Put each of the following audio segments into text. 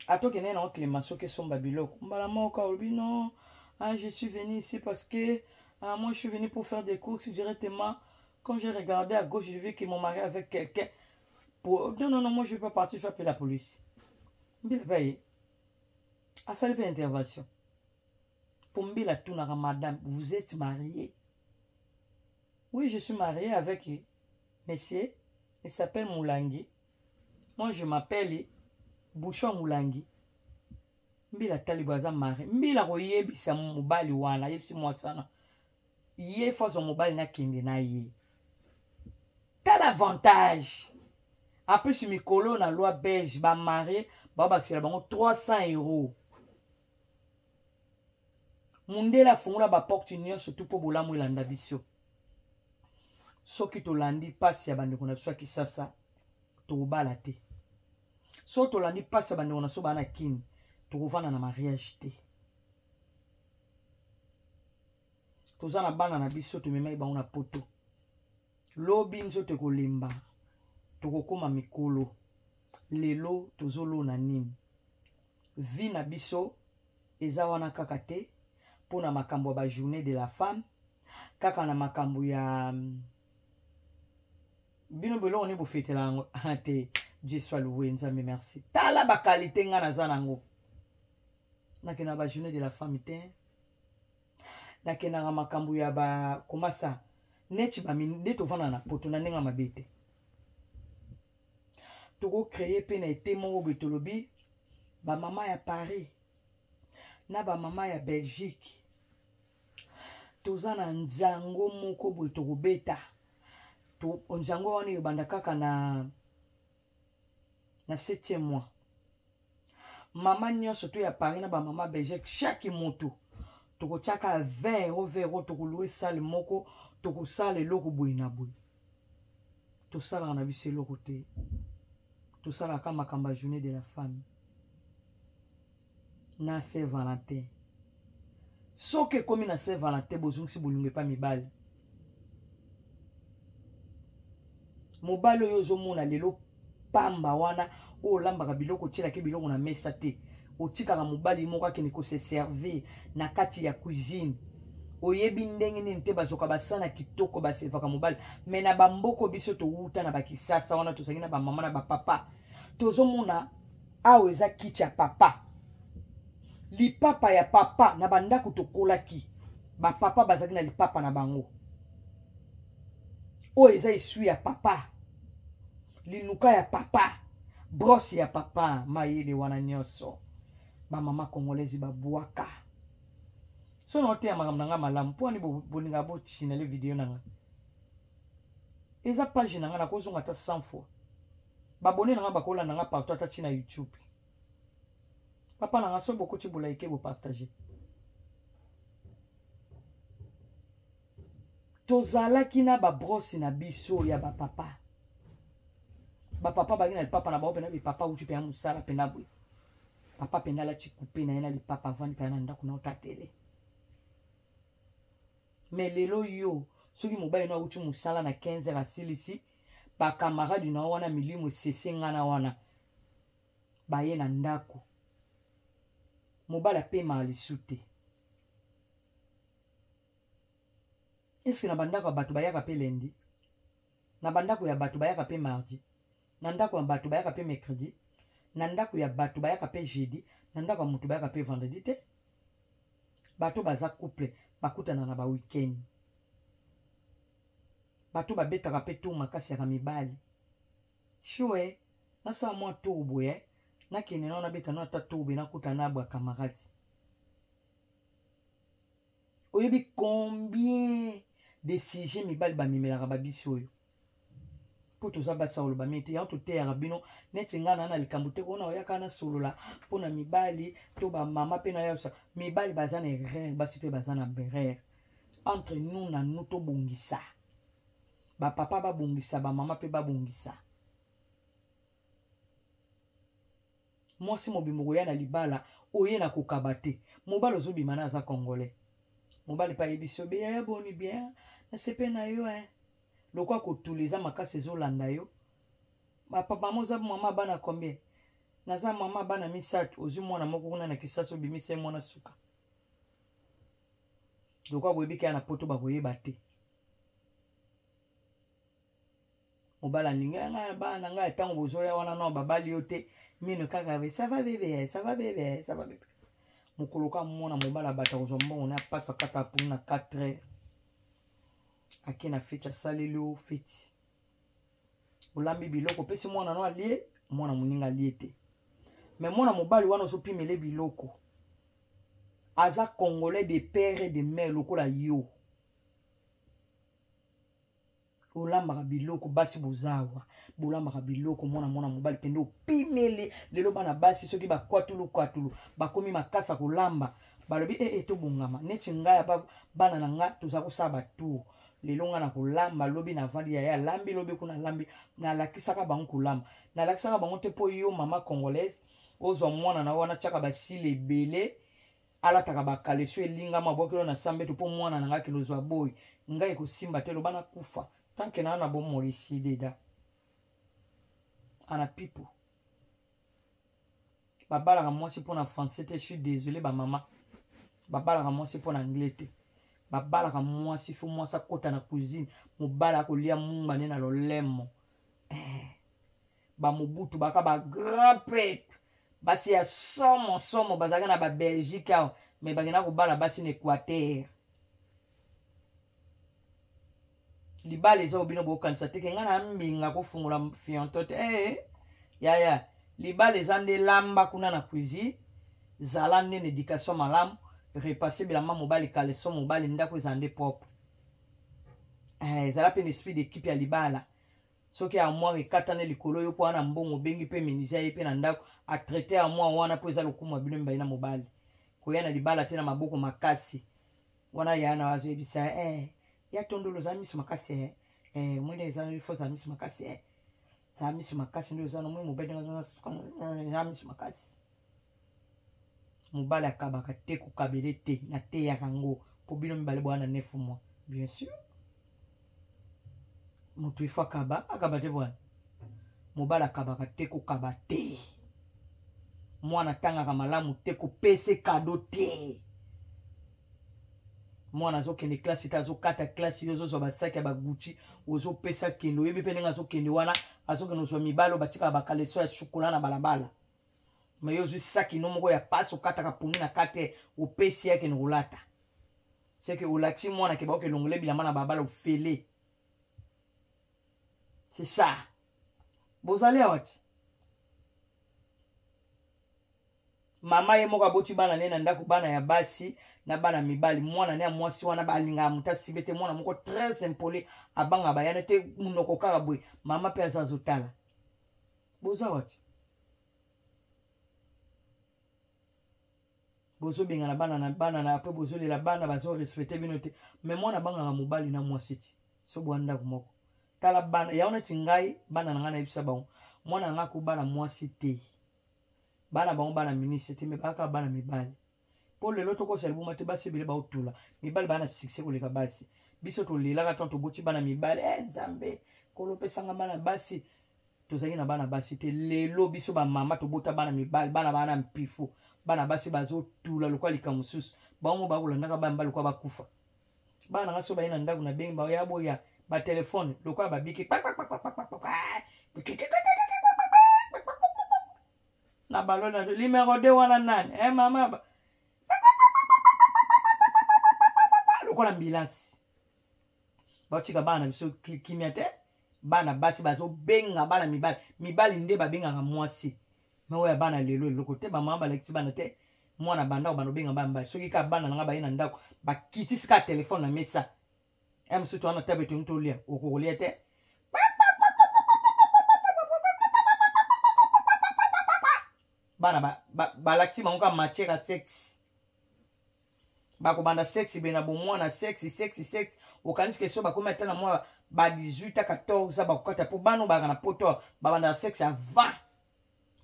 ata okendaki nango clément soki esomba biloko mbala moko olobi non ah, je suis venu ici parce que ah, moi je suis venu pour faire des courses directement quand j'ai regardé à gauche je vu que mon mari avec quelqu'un pour... non non non moi je vais pas partir je vais appeler la police mbila mpe aye asali mpe intervention mpo mbila atunaka madame vous êtes marié oui je suis marié avec monsieur il s'appelle moulangi moi je m'appelle bouchon mulangi mbila talibo aza mari mbila koyebisa mobali wana ayebisi mwasi wana ye fo azwa mobali nakende na ye tala avantage apres mikolo na loi belge bamarie babakisela bango 300 euros mundele afongola baporte nyonso tu mpo bolamu elanda biso soki tolandi mpasi ya bandeko na biso ya kisasa tokobala te soki tolandi mpasi ya bandeko na biso baa na kini tokovanda na mariage te toza na bana na biso tomemaki bango na poto lobi nzoto ekolemba tokokoma mikolo lelo tozolona nini vie na biso eza wana kaka te mpo na makambo ya ba journée de la femme kaka na makambo ya mm, bino biloko nde bofetela yango te je soit loué nzambe merci tala bakalite ngai naza nango nakenda ba journée de la femme te nakendaka makambo ya bakomasa neti nde tovanda na poto na ndenge mabe te tokocreye mpe na ete moko boye tolobi bamama ya paris na bamama ya belgique toza na nzango moko boye tokobeta nzango wana ebanda kaka na na septième mois mama nyonso to ya paris na bamama belgique chaque moto tokotyaka 20 euro 20 euro tokolue sale moko tokosala eloko boye na boye tosalaka na biso eloko te tosalaka makambo ya journée de la femme na saint valentin soki ekomi na saint valentin bozongisi bolingo epa mibali mobali oyo ozomona lelo pamba wana oyo olambaka biloko otyelaki biloko na mesa te otikaka mobali moko akende kose servir na kati ya cuisine oyebi ndenge nini te bazoka basana kitoko basevaka mobali me na bamboko biso towuta na bakisasa wana tozali na bamama na bapapa tozomona awa eza kiti ya papa lipapa ya papa na bandako tokolaki bapapa bazalaki na lipapa na bango oyo eza esui ya papa linuka ya papa brosse ya papa mayele wana nyonso bamama congolaise babwaka so na oteya makambo na ngai malamu mpo ani bolinga bosinale video na ngai eza page na ngai nakozonga ata 100 fois babone na nga bakolanda nga partout ata ti na youtube papa na nga soki bokoti bolaike bopartage tozalaki na babrosi na biso ya bapapa bapapa baki na lipapa na bango mpena bipapa uti mpe ya mosala mpena boye papa mpena alati kupe na ye na lipapa avandi mpena na ndako na otatele me lelo yo soki mobali no auti mosala na 15 heure asilisi ba camarade na wana milimu esese nga na wana baye na ndako mobali apemaka lisu te eske na bandako ya bato bayaka mpe lendi na bandako ya bato bayaka mpe mardi na ndako ya bato bayaka mpe mercredi na ndako ya bato bayaka mpe jeudi na ndako ya moto bayaka mpe vendredi te bato baza couple bakutana na ba week-end bato babetaka mpe tour makasi yaka mibali shue nasala mwa tour boye nakende nao nabeta no ata tour boye nakuta na bwa camarade oyebi combien de sujet mibali bamemelaka babisi oyo mpo toza basi akoloba mingi te yango toteyaka bino neti ngai naa na likambo te kona oyaka nasolola mpo na mibali to bamama mpe nayosa mibali baza na erreur basi mpe baza na berreur entre nous na nous tobongisa bapapa babongisa bamama mpe babongisa mwasi mobimba okoya na libala oye na kokaba te mobali ozobima na aza congolais mobali mpe ayebisi yo beya ya boni bien nasepe na yo e loko akotula eza makasi ezolanda yo mama oza mama bana combien naza mama bana misato ozwi mwana moko kuna na kisasa obimisa ye mwana suka lokola boyebi kaka na poto bakoyeba te mobala alingi ya ngai bana na ngai ntango bozoya wana no babali yo te mino kaka be sava bebe sava bebe sava bebe mokolo ka mona mobala bato akozwa mbongo na apasa kata apuni na 4 heure ake na feti asaleli yo feti olambi biloko opesi mwana no alie mwana moninga alie te me mwana mobali wana ozopimele biloko aza congolais de père et de mère lokola yo olambaka biloko basi bozawa bolambaka biloko mwana mwana mobali pende opimele lelo bana basi soki bakwatulu kwatulu bakomi makasa kolamba balobi ee eh, eh, tobongama neti ngai bana na ngai toza kosala batour lelo nga na kolamba lobi navandi yaya alambi lobi kuna alambi nalakisaka bango kolamba nalakisaka bango te mpo yo mama congolaise ozwa mwana na wana tiaka basili ebele alataka bakaleso elingama bwakelo na sambeto mpo mwana na ngai akende ozwa boyi ngai ekosimba te loba nakufa tanke naa na bomoi esideda ana pipo babalaka mwasi mpo na français te suis désolé bamama babalaka mwasi mpo na anglais te babalaka mwasi fo mwasi akota na cuisine mobali akolia mumba nde na lolemo eh. bamobutu baka bagrand prêtre basi ya somo somo bazalaka na babelgique awa me bakenda kobala basi na équateur libala eza obino bokanisa teke ngai na mbinga kofungola fianto te ee eh, yaya libala eza nde lamba kuna na cuisine zala nde na éducation malamu repasse bilamba mobali kaleso mobali ndako eza nde propre eh, ezala mpe na esprit d'équipe ya libala soki armoire ekatana likolo yo mpo wana mbongo obengi mpe minisi ye mpe na ndako atraite armoire wana mpo eza lokumu ya bino mibali na mobali koya na libala te na maboko makasi wana ya na azoyebisa eh, ya tondolo ozala miso makasi eh, eh, mwende eza fo ozala miso makasi eh. zala miso makasi nde oza nomoi mobali ndengea miso makasi mobali akabaka te kokabele te nateyaka yango mpo bino mibale bwana nefu mwa bien sûr moto ifo akaba akaba te bwana mobali akabaka te kokaba te mwana atangaka malamu te kopese kado te mwana azokende klasi te azokata klasi yo ozozwa basaki ya bagucci ozopesa kende oyebi mpe ndenge azokende wana azokende ozwa mibale oyo batikaka bakaleso ya shokola na balabala ma yo ozwi saki no moko ya pasi okataka pongi na kate opesi yakende kolata c'est que olakisi mwana ke baoke elongole bilamba na babala ofele c'est ça bozali awa ti mama ye moko aboti bana ne na ndako bana ya basi na bana mibali mwana ne ya mwasi wana balingaka moto asibe te mwana moko très impoli abanga bayana te monoko kaka boye mama mpe aza azotala boza wati bozobengana bana na bana na apres bozolela bana bazorespecte bino te me mwana abangaka mobali na mwasi ti so bwa ndako moko tala bana yango neti ngai bana na ngai nayebisa bango mwana na ngai akobala mwasi te bana bango bana ministre te me bakaka bana mibali mpo lelo tokosa libuma te basi ebele baotula mibali bana succès koleka basi biso tolelaka ntango toboti bana mibali e eh, nzambe kolopesanga bana basi tozalaki na bana basi te lelo biso bamama tobota bana mibali bana bana mpifo bana basi bazotula lokola likambo mosusu bango bakolandaka bana mibali lokola bakufa bana nanga so baye na ndako na bengi baoya boya batelefone lokola babiki na balona limero de wana nani e mama lokola ambilansi batika bana na biso kimia te bana basi bazobenga bana mibali mibali nde babengaka mwasi me oyo ya bana lelo eloko te bamama balakisi bana te mwana bandako bana obenga bana mibali soki kaka bana na ngai baye na ndako bakitisi kaka telefone na mesa ya mosusu to wana tabe tongi tolia okokolia te bana balakisi bango kaka matière ya sexe bakobanda sexe be na bomwana sexe sexe sexe okanisi ke so bakomi ata na mwa ba 18 a 14 bakokata mpo bana obaka na poto babandaka sexe avant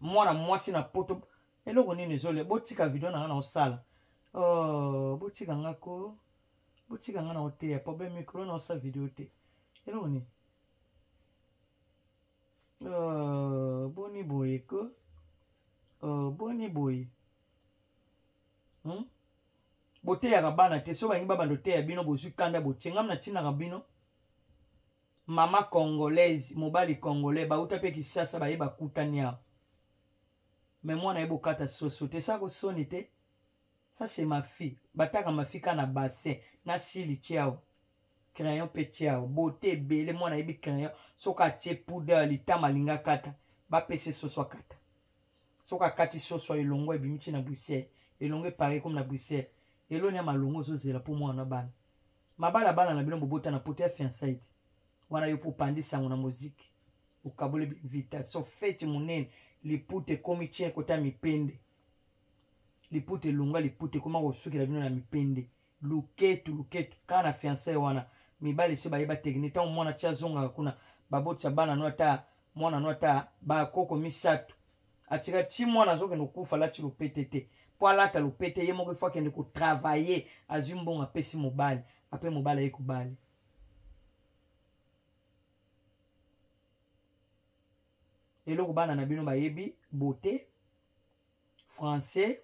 mwana mwasi na poto eloko nini ezole botika video na nga na osala oh, botika nga ko botika nga na oteya problème mikolo na osala video te eloko nini oh, boni boye ko oh, boni boye hmm? boteyaka bana te soki balingi babanda oteya bino bozwi kanda botie ngam natindaka bino mama congolaise mobali congolais bauta mpe kisasa baye bakutani awa me mwana ye bokata soso te sa kosoni te sa se mafi bataka mafi ka na bassin na sili tiao crayon mpe tiao bote ebele mwana ayebi crayon soki atie poudre litama alinga kata bapese soso akata soki akati soso ya elongo ebimi ti na bruxelles elongo epare komi na bruxelles eloni ya malongo ozozela mpo mwana na bana mabala bana na bino bobota na poto ya fiansaide wana yo mpo opandi sango na moziki okaboli binvitation feti monene liputa ekomi tien kota mipende liputa elonga liputa ekoma kosukela bino na mipende luketu luketu kaka na fiançae wana mibali esi bayeba tekini ntango mwana ti azongaka kuna babotisa bana no ata mwana no ata bakoko misato atika ti mwana azokende kokufa alati lopete te mpo alata lopete ye moko ifo akende kotravaille azwi mbongo apesi mobali ape mobali aye kobali eloko bana na bino bayebi bote français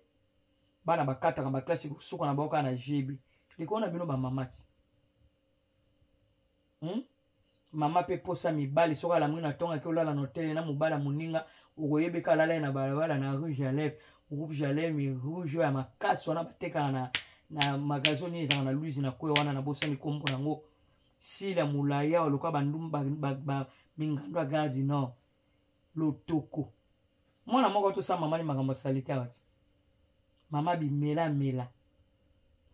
bana bakataka baklase kosuka na bango kaka na gb likolo na bino bamama ti hmm? mama mpe posa mibali soki alamwi na ntongaki olala na hotele na mobali ya moninga okoyebeka alala ye na balabala na rouge ya lève groupe jalemi rouge ya makasi wana batekaka na, na magasin nini ezalaka na luise na kwe wana nabosani nkombo yango sila molaya oluka bandumba mingando ya gare du nord lotoko mwana moko tosala mama ni makambo ya salite awa te mama bimela mela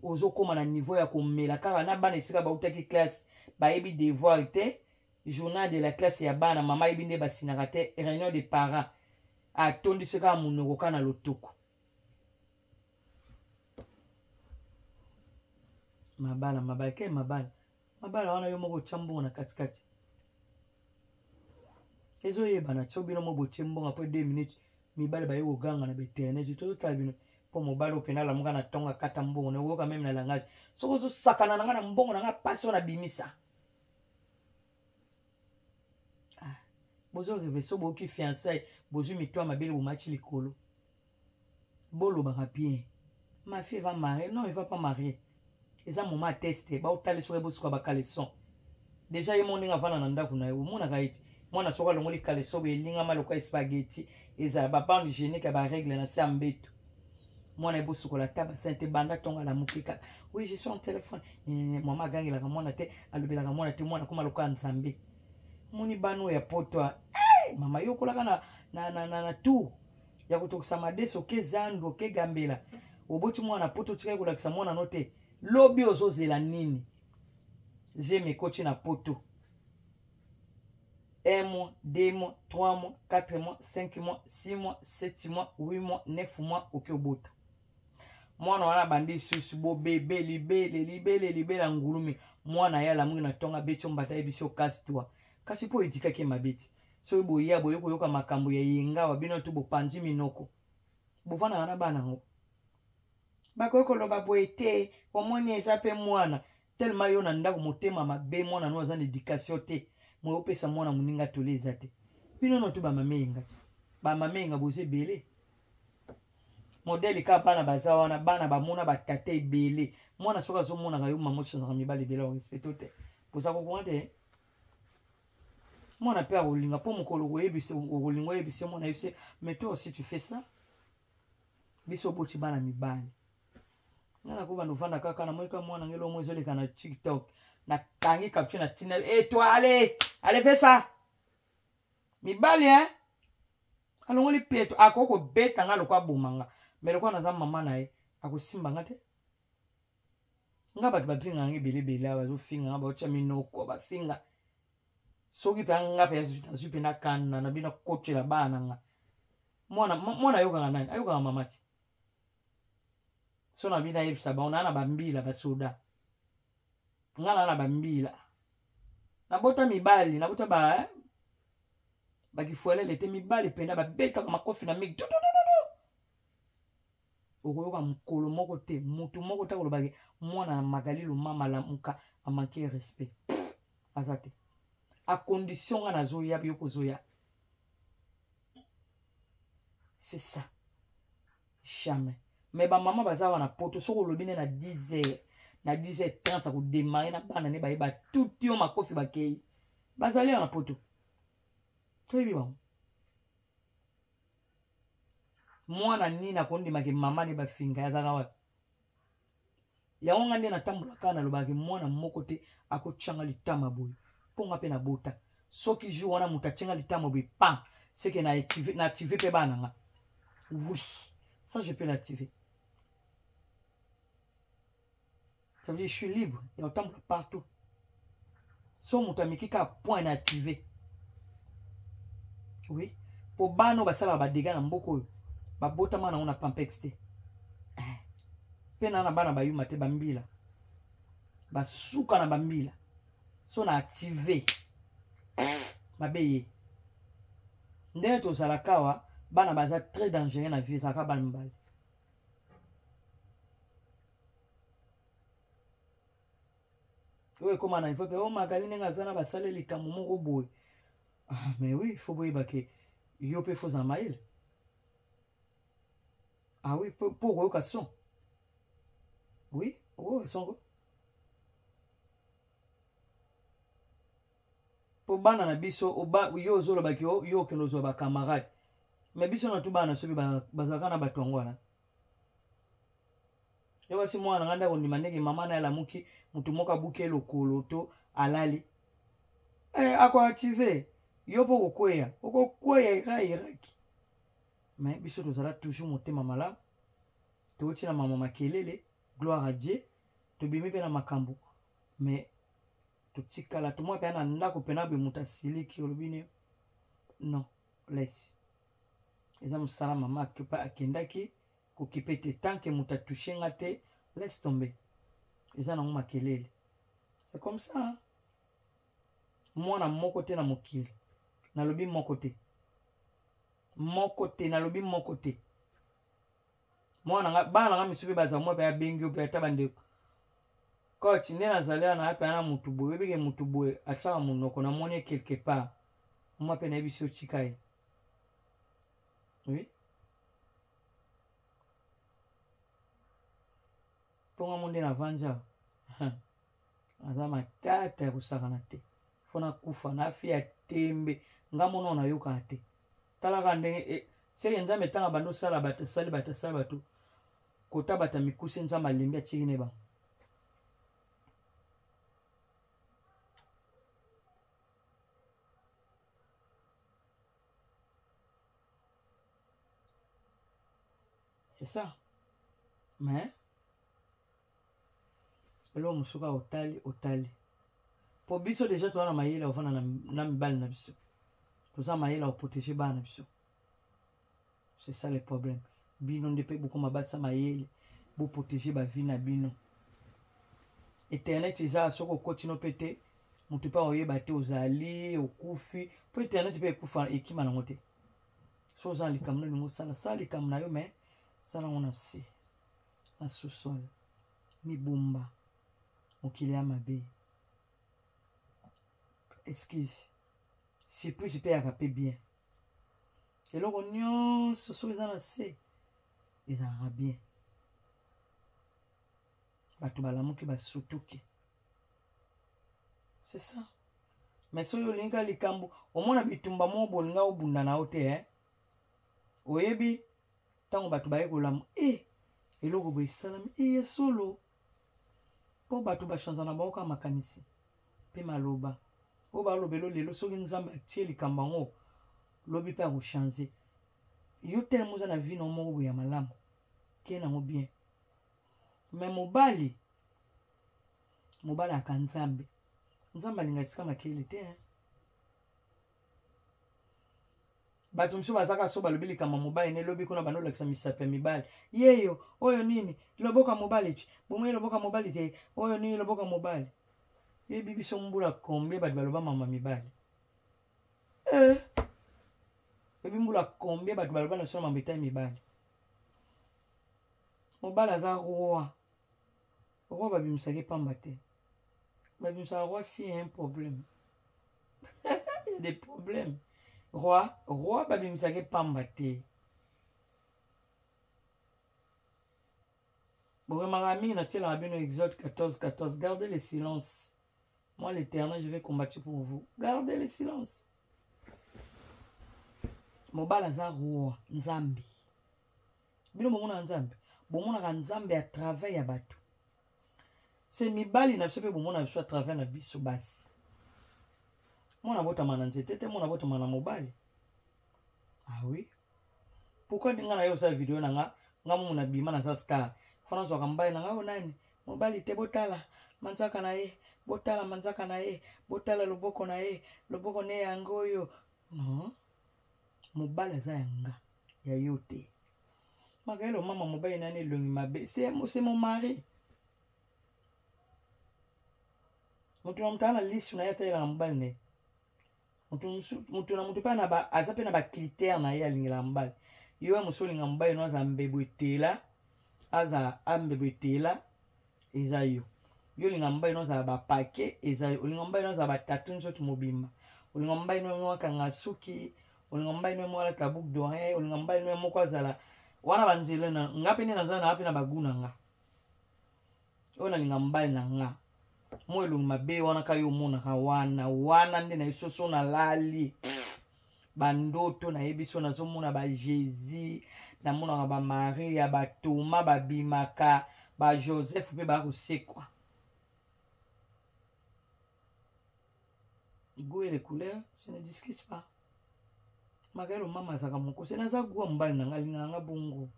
ozokóma na niveau ya komela kaka na bana esika bautaki classe bayebi devoir te journal de la classe ya bana mama ayebi nde basinaka te réunion de parents atondisi kaka monoko kaka na lotoko mabala mabala ke mabala mabala wana yo moko otya mbongo na katikati ezoyebana tso bino mo botie mbongo apres 2 minutes mibale baye koganga na bainternet tozotala bino mpo mobali oyo mpena alamuka na ntongo akata mbongo na oyoka meme na langage soki ozosakana na ngai na mbongo na ngai mpasi oyo nabimisa ah, bozo reve so boyoki fiançai bozwi mito ya mabele bomati likolo bolobaka bien ma fille va marier non il va pas marier eza moma ya teste baotalisa ye bosuka bakaleson deja ye moninga avanda na ndako na ye omonaka ete mwana soko alongoli kaleso boye elingama lokola espageti ezala babande hygiénique ya baregle na se ya mbeto mwana ye bosukola ata basin te banda ntongo alamuki kaka oui je suis en téléphone mama agangelaka mwana te alobelaka mwana te mwana akoma lokola nzambe moni bana oyo ya poto mama yokolaka na, na, na, na, na tour ya kotokisa madeso ke zando ke gambela oboti mwana poto otikaki kolakisa mwana no te lobi ozozela nini zemi ekoti na poto un mois deux mois trois mois quatre mois cinq mois six mois sept mois huit mois neuf mois oke obota mwana wana abandi lisusu bobebe libele libele libela ngulumi mwana ye alamuki na ntongo abeti ombata ye biso kasi twa kasi mpo edikaki ye mabe ti soki boya boye koyoka makambo ya yengawa bino tu bopanzi minoko bofandaka na bana yango bakoki koloba boye te omoni eza mpe mwana telema yo na ndako motema mabe mwana no aza na edikatio te moye opesa mwana moninga toli eza te bino no tu bamama eyenga te bamama eyenga boza ebele modele kaka bana baza wana bana bamona batata ebele mwana soki azomonaka yo mama osonzaka mibali ebele orespecto te boza kokonga te mwana mpe akolinga mpo mokolo koyebisa okolinga oyebisa ye mwana yebisa me toi aussi tu fais ça biso oboti bana mibali nga nakobanda ovanda kaka namoni ka mwana nge lomo ezoleka na tiktok nakangi capture na tina e eh, toi ale ale fais ça mibali hein alongoli peto akoki kobeta nga lokwa aboma nga me lokwa naza mama na ye akosimba nga te nga bato bafingaka nga ebele ebele awa bazofinga nga baotya minoko bafinga soki mpe anga mpe nazwi mpe nakanda na bino akotela bana nga mwana ayokaka nani ayokaka mama te so na bino ayebisa bango naa na bambila basoda nga naa na bambila nabota mibali nabota ba eh, bakifuelele te mibali mpena babetaka makofi na migi okoyoka mokolo moko te moto moko te akoloba ke mwana na magali lomama lamuka amanke respect aza te acondition nga nazoya yo kozoya c'est ça jamais mais bamama baza wana poto soki olobi nde na 10 heures na 10 heures 30 akodemare na bana nde baye batuti yo makofi bakei bazali wana poto toyebi bango mwana nini akondima ke mama ne bafinga azalaka wapi yango ngai nde natambolaka kaka nalobaka ke mwana moko te akotyanga litama boye mpo ngai mpe nabota soki jour wana moto atyanga litama boye pa seke na active mpe bana ngai oui ça je peux l'activer ça veut dire je suis libre ya kotambola partout so moto ameki kaka point na active oui mpo bana oyo basalaka badega na mboka oyo babotama nango na pampex te eh. mpe na na bana bayuma te bambila basuka na bambila so na active mabe ye ndenge tozalaka awa bana baza très dangereux na vie ezalaka bana mibale oyo ekoma na ivope o oh, magali ndenge aza na basale likambo moko boye ah, mais oui fo boyeba ke yo mpe fozala mayele ah oui mpo okoyoka son oui okoyoka songo po bana na biso oba yo ozoloba ki yo okende ozwa ba camarade me biso na tu bana soki bazalaka na bato yango wana yo basi mwana nga nde akondima ndenge mama na alamuki motu moko abuki elokolo to alali eh, akoactive yo mpo okokweya okokweya ira iraki me biso tozala toujours motema malamu touti na mama makelele gloire à dieu tobimi mpe na makambo mais totikala tomwa mpe na ndako mpe na bemuta siliki olobi ne non lesi eza mosala mama akipa akendaki kokipe te tant ke moto atouche nga te laisse tomber eza nango makelele c'est comme ça hein? mwana moko te na mokili nalobi moko te moko te nalobi moko te mwana nga bana na nga misusu mpe baza mwa mpe abengi yo mpe ata bandeko coach nde nazali wana ape ana motu boye oyebike motu boye atyaka monoko namoni ye quelque part mwa mpe nayebisi yo tika ye oui mpo nga mo nde na vanja aza matata ya kosakana te fo nakufa nafi ya tembe nga mona oyo nayokaka te talaka ndenge e, seke nzambe ntango abandi osala bato asali bato asala bato kota bato ya mikuse nzambe alembi atiki ne bango c'est ça mais eloko mosusu kaka otali otali mpo biso deja toza na mayele ya kofanda na mibali na biso toza mayele ya koprotege bana na biso c'est ça le problème bino nde mpe bokoma batisa mayele boprotege bavi na bino internet eza soki okotino mpe te moto mpe akoyeba te ozali okufi mpo internet mpe ekufa ekima nango te so oza na likambo na olingi osala sala likambo na yo mai sala yango na se na sous-sol mibumba mokili ya mabe excuse surprise mpe yaka mpe bien eloko nyonso soki eza na se ezalaka bien bato balamuki basutuki c'est ça mais soki olingi ka likambo omona bitumba moko bolinga obunda na yo te eh? oyebi ntango bato baye kolamu e eh, eloko boye esalami e ya solo mpo bato bashanza na bango kaka makanisi mpe maloba oyo balobelo lelo soki nzambe atie likambo yango lobi mpe akochange yo telema oza na vino moko boye ya malamu kei nango bien me mobali mobali aka nzambe nzambe alinga esika makele te hein? bato mosusu baza kaka so balobi likambo ya mobali ne lobi kuna bando olakisa misato ya mibali yeyo oyo nini loboka mobali ti bomoi loboka mobali te oyo nini loboka mobali yebi biso mbula combien bato baloba mama mibali eh. yebi mbula combien bato baloba na biso na mambo etali mibali mobali aza roi Roi babimisaka ye pamba te babimisaka roi si ya un problème ya des problèmes roi roi babimisaka ye pamba te boremaka mingi natielaka bino exode 14 14 gardez le silence moi l'éternel je vais combattre pour vous gardez le silence mobali aza roi nzambe bino bomonaka nzambe bomonaka nzambe ya travail ya bato se mibali na biso mpe bomona biso ya travail na biso basi mwana botama na nzete te mwana botama na mobali awi ah pourkui ndinga na yo osala video na nga nga momo na bima naza star fana zwaka mobali na nga oyo nani mobali te botala manzaka na ye botala manzaka na ye botala loboko na ye loboko ne yango oyo non mobali aza ya nga ya yo te magaele omama mobali nani elongi mabe se momari moto na moto aa na lisu na ye atalelaka mobali na ye moto na moto mpe aza mpe na bacritère na ye alingelaka mobali yo ya mosi olinga mobali no aza mbebu etela aza ambebu etela eza yo yo olinga mobali nozala bapake eza yo olinga mobali nozala batatu nzoto mobimba olinga mobali noye moko akanga suki olinga mobali noye moko alata bouc d'oreille olinga mobali noye moko azala wana banzela na nga mpe nde nazala na nga mpe na bagu na nga oyo nalinga mobali na nga mo elongi mabe wana ka yo omonaka wana wana nde na esoso nalali bandoto nayebi so nazomona ba jésus namonaka ba maria ba toma babimaka ba joseph mpe bakosekwa goût et les couleurs se ne discute pas makayelo mama azaka moko se naza goût ya mobali na ngai alingaka nga bongo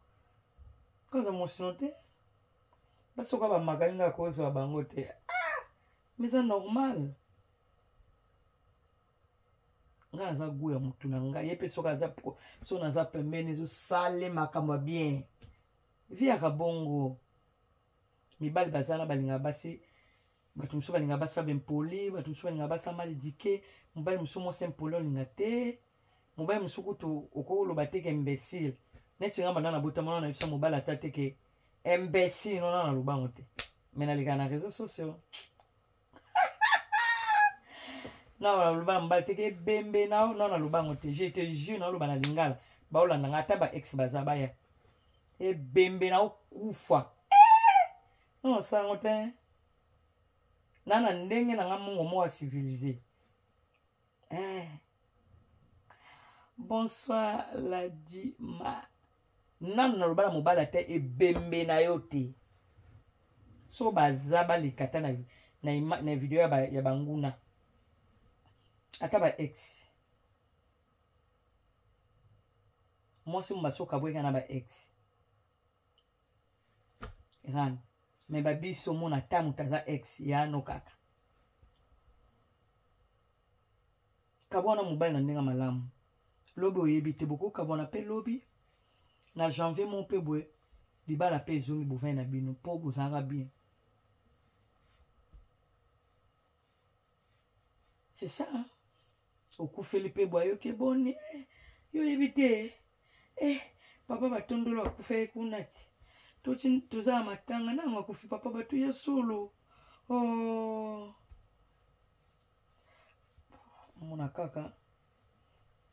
koza mosino te basoka bamakali nga kozwa bango te ah, mais eza normal nga naza gout ya mutu na ngai ye mpe soki aza so naza pembeni ezosale makambo ya bien viaka bongo mibali baza na balingaka basi bato mosusu balingaka basa bempoli bato mosusu balingaka basa mal dike mobali mosusu mwasi mpoli olinga te mobali mosusu kutu okoloba te ke imbécile neti nga banda nabotama wana na biso mobali ata te ke imbécile nona nalobango te me naleka na réseau sociaux nao naloba mobali teke ebembe nao nao naloba yango te je te jure naoloba na lingala baolanda ngai ata ba ex baza baya ebembe naokufa eh! nao osala yango te na na ndenge na ngai mongo moko ya civilise eh. bonsoir ladima nanu naloba na mobali ata ebembe na yo te so baza baleka ata na, na, na video ya, ba, ya banguna ata ba ex mwasi mobasoka boyeka na ba ex ezana me babiso mona ata moto aza ex yano kaka kabwana mobali na ndenge malamu lobi oyebi te bokokabwana mpe lobi na janvier mo mpe boye libala mpe ezongi bovai na bino mpo bozalaka bien c'est ça hein? okufeli mpe bwa yoke boni eh, yo oyebi te eh, papa batondolo akufaki kuna ti toza na matanga nango akufi papa bato ya solo oh. mona kaka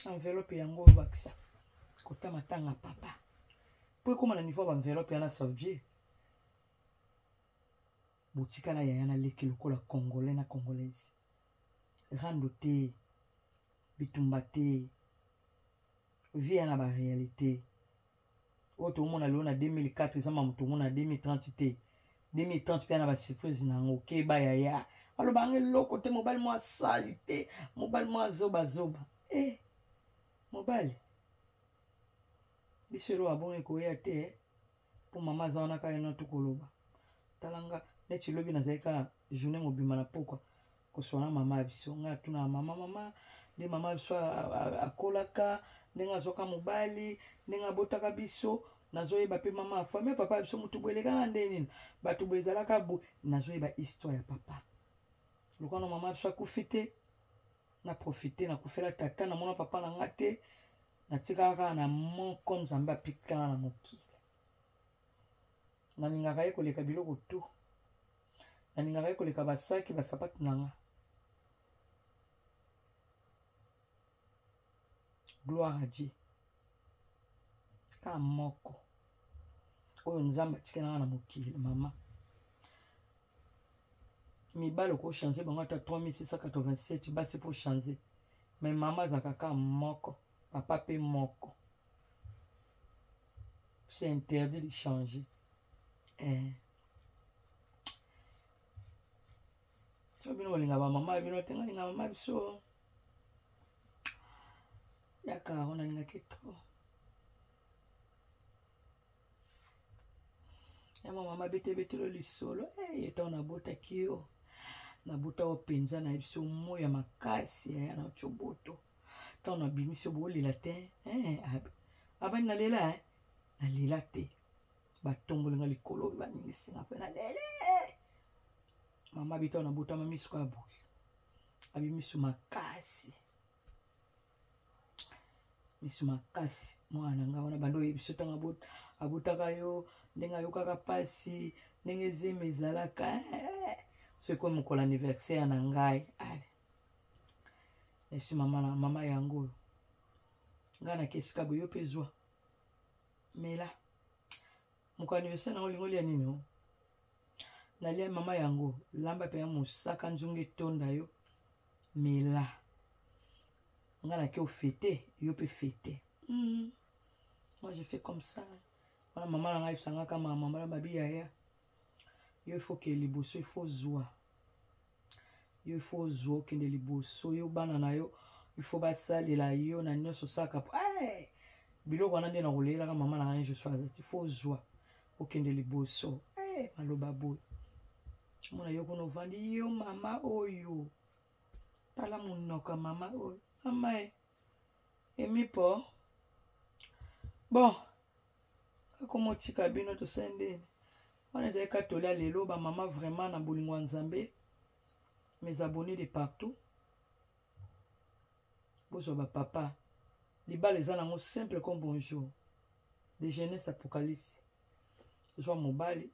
enveloppe yango obakisa kota matanga papa mpo ekóma na niveau ya baenveloppe yana savie botikala yaya na leki lokola congolais na congolaise rando te bitumba te vie ya na ba réalité oyo tomona lelo na 2004 eza mamu tomona na 2030 te 2030 mpe na ba surprise na yango keba yaya aloba yango eloko te mobali mwa sali te mobali mwa zobazoba e eh, mobali biso eloko abongo ekoya te mpo mama aza wana kaka ena tokoloba tala nga neti lobi nazali kaka journée mobima na pokwa koswana mama ya biso ngai atunaka mama mama nde mama ya biso akolaka ndenge azwaka mobali ndenge abotaka biso nazoyeba mpe mama ya famille papa ya biso motu bo elekaka nde nini bato bo ezalaka bo nazoyeba histoire ya papa lokwana mama ya biso akufi te na profite nakufela tata namona papa na nga te natikaka kaka na moko nzambe apikana na mokili nalingaka ye koleka biloko tu nalingaka ye koleka basaki basapatu na nga gloire à dieu kaka moko oyo nzambe atikelanga na mokili mama mibali okochange bango ata 3687 basi mpo change me mama azalaka kaka moko papa mpe moko c'est interdit de changer eh. so bino bolinga bamama ya bino te ngalinga mama biso yaka ona lingaki trop ya mama mabetebetelo lisolo eye eh, ntango nabotaki yo nabuta yo mpenza na biso moi ya makasi yaya na coboto ntango nabimisi yo bolela te eh, abani nalela eh? nalela te batongoli nga likolo baningisi nga mpe nalele mama bita nabotama miso kaka boye abimiso makasi misu makasi mwana na ngai wana banda oyebiso ntango abotaka yo ndenge ayokaka mpasi ndenge zemi ezalaka eh, soki ekomi mokolo anniversaire na ngai ale esi mama na mama yango oyo ngai nakesika boyo mpe zwa mela moko anniversaire nango olingi olia nini o nalia mama yango lamba mpenza mosaka nzungu etonda yo mela nga nake ofete yo mpe fete mm. moi je fais comme ça wana mama na ngai ebisangaka mama mama na babi yaya yo ifoke liboso ifo zwa yo ifo ozwa okende liboso yo bana na yo ifo basalela yo na nyonso osalaka po eh! biloko wana nde nakoleyelaka mama na ngai joshua azati ifo ozwa okende liboso eh! maloba boye mona yo kuna ovandi yo mama oyo tala monoko ya mama oyo mama e emipo bon akomotika bino tosali ndeni wana ezali katolia lelo bamama vraiment na bolingo ya nzambe mes abonnés de partout bozwa bapapa libala eza nango simple comme bonjour de jeunesse apocalypse ozwa mobali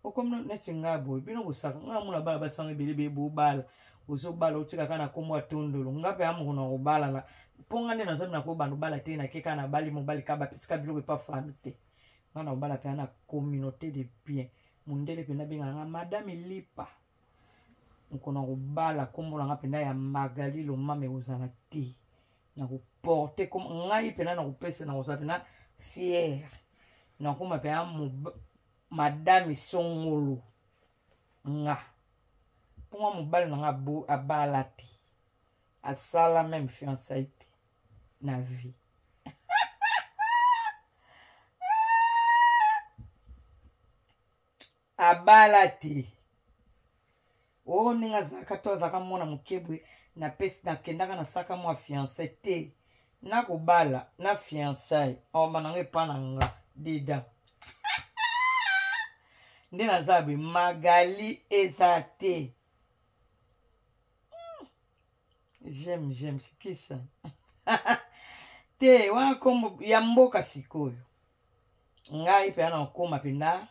okomi neti ngai boye bino bosaka ngai amona bana basanga ebele beye bobala ozobala otika kaka na nkombo ya tondolo ngai mpe amoko na kobala na mpo ngai nde nazomi na kobanda obala te nake kaka nabali mobali kaka bapesaka biloko epa fami te ngai na kobala mpenza na communauté de bien mondele mpenza abenga ngai madame lipa mokona kobala nkombo na ngai mpenza ya magali lomama ekozala te nakoporte comme ngai mpena nakopesa nakozala mpena fiere nakoma mpena madame songolo nga mponga mobali na nga abala te asala meme fiancai te na vie abala te o oh, ndenge azalaka to azalaka mwana moke boye napesi nakendaka nasaka mwa fiance te nakobala na fiançai omba nango epa na nga deda nde naza boye magali eza te hmm. j'aime j'aime sikisa te wana kombo ya mboka sikoyo ngai mpe ana okoma mpenza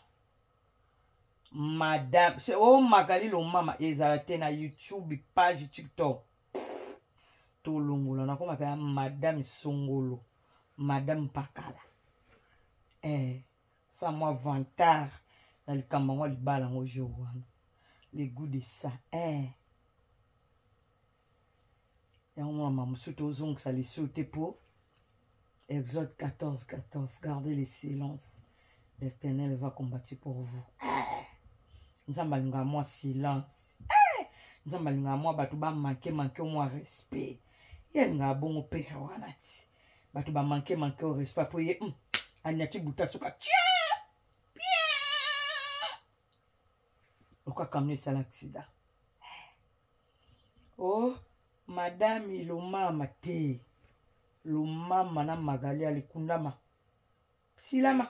madame se o oh, magali lomama ezala te na youtube page tiktok tolongola nakoma mpe madame songolo madame pakala eh, sa mwa vantard na likambo yango libala yango jour wana le gout de ça eh. yango mwana mama mosusu tozongisa lisu te mpo exode 14 14 gardez le silence l'éternel va combattre pour vous eh! nzambe alingaka mwa silence eh! nzambe alingaka mwa bato bamanke manke mwa respect ye alingaka bongo pere wana ti bato bamanke manke o respect mpo ye hmm, anyati buta suka tie lokola kamio esala aksida eh! o oh, madame lomama te lomama na magali alikundama silama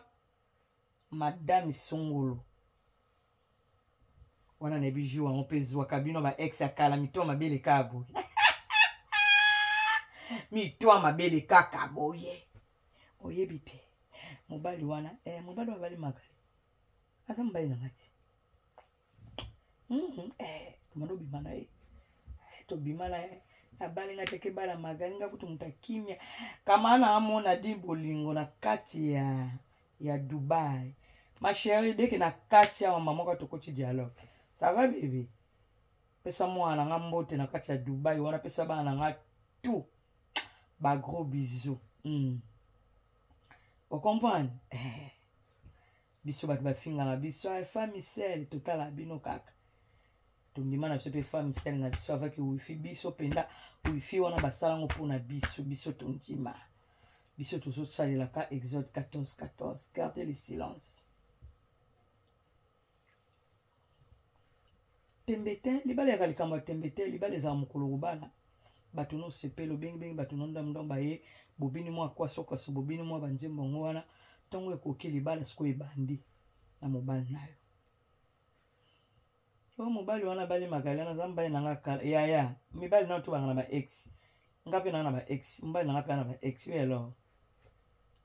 madame songolo wana nayebi jour yango mpe ezwaka bino ba ex ya kala mito mabe eleka boye mito mabele kaka boye oyebi te mobali wana eh, mobali wana abali magali aza mobali na nga te Mhm, eh, komanda obima na ye Eh, tobima na ye abali nga teke bala magali nga kutu moto akimia kama na amona di bolingo na kati ya ya dubai ma chérie deke na kati awa mama ka tokoti dialogue ça va bebe pesa mwana na nga mbote na kati ya dubai wana pesa bana na nga tout ba gros bisous mm. ocomprendre eh. biso bato bafingaka biso ah, femme sel totala bino kaka tondima na biso mpe femme sel na biso avaki wifi biso mpenza wifi wana basala yango mpo na biso biso tondima biso tozosalelaka exode 14 14 garde le silence tembe te libala yaka likambo ya tembe te libala ezala mokolo kobala bato nosepela obengibengi bato nondamdam baye bobini mwa kwasokaso bobini mwa banzembo yango wana ntongo ekoki libala sikoyo ebandi na mobali na yo oyo mobali wana abali magali wana aza mobali na nga kala yaya mibali nano tobanga na baex nga mpe naa na ba ex mobali na nga mpe aa na ba ex oui alors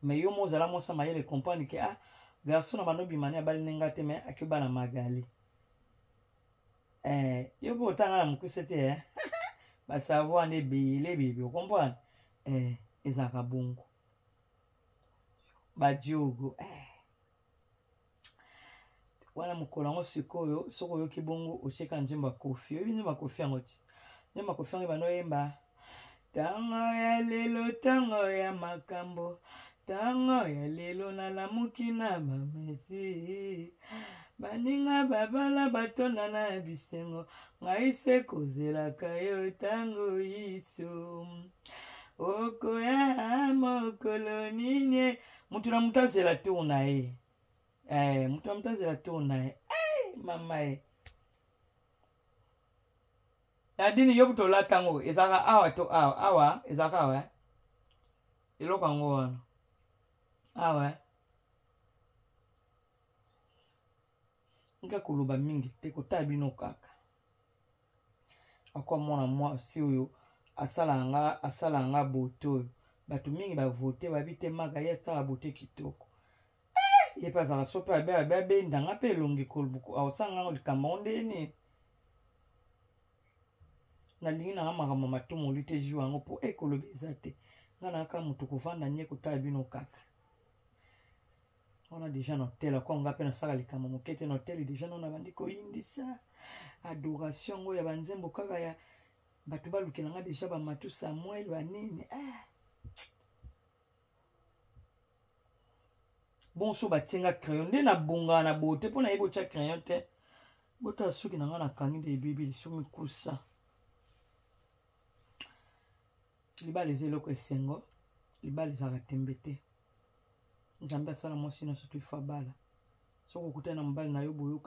mais yo mo ozala mosa mayele comprendre ke ah garçon na bando bimani abali ne nga te mais ake bana magali eh, yo mpe otanga na mokuse te eh? basavoir nde ebele ebebe okomprendre eh, ezalaka bongo badiogo eh. wana mokolo yango sikoyo soki oyoki bongo otyeka nzembo ya kofi oyebi nzembo ya kofi yango ti nzembo ya kofi yango ebanda oyemba ntango ya lelo ntango ya makambo ntango ya lelo nalamuki na bamesi baninga babala batonda na bisengo ngai se kozelaka yo ntango iso okoya mokolo nini mutu na mutu azela tour na ye eh, mutu na mutu azela tour na ye eh, mama ye eh. nadini yo kutu olata yango ezalaka awa to awa awa ezalaka awa eh? eloko yango wana awa eh? nga koloba mingi te kotala bino kaka encore mwana mwasi oyo asalaka nga asalaka nga bote oyo bato mingi bavote bayebi te maka ye asalaka bote kitoko eh, ye mpe azalaka so mpe abenda nga mpe elongi aosala ngango likambo yango ndenge nini nalingi nanga makambo ya matomoli te jour yango mpo ekoloba eza te nga nayaka moto kovanda nie kotala bino kaka wana deja na hotel ako nga mpe nasala likambo moke te na hotel deja nao nabandi koyindisa adoration yango ya banzembo kaka ya bato balukela nga deja bamatu samuel banini ah. bonso batie nga crayon nde nabongana na bote mpo nayebi otya crayon te botala suki na nga nakangi nde ebebi liso mikusa libala eza eloko esengo libala ezalaka tembe te nzambe asala mwasi nyonso to ifo abala soki okutani na mobali na yo boyoka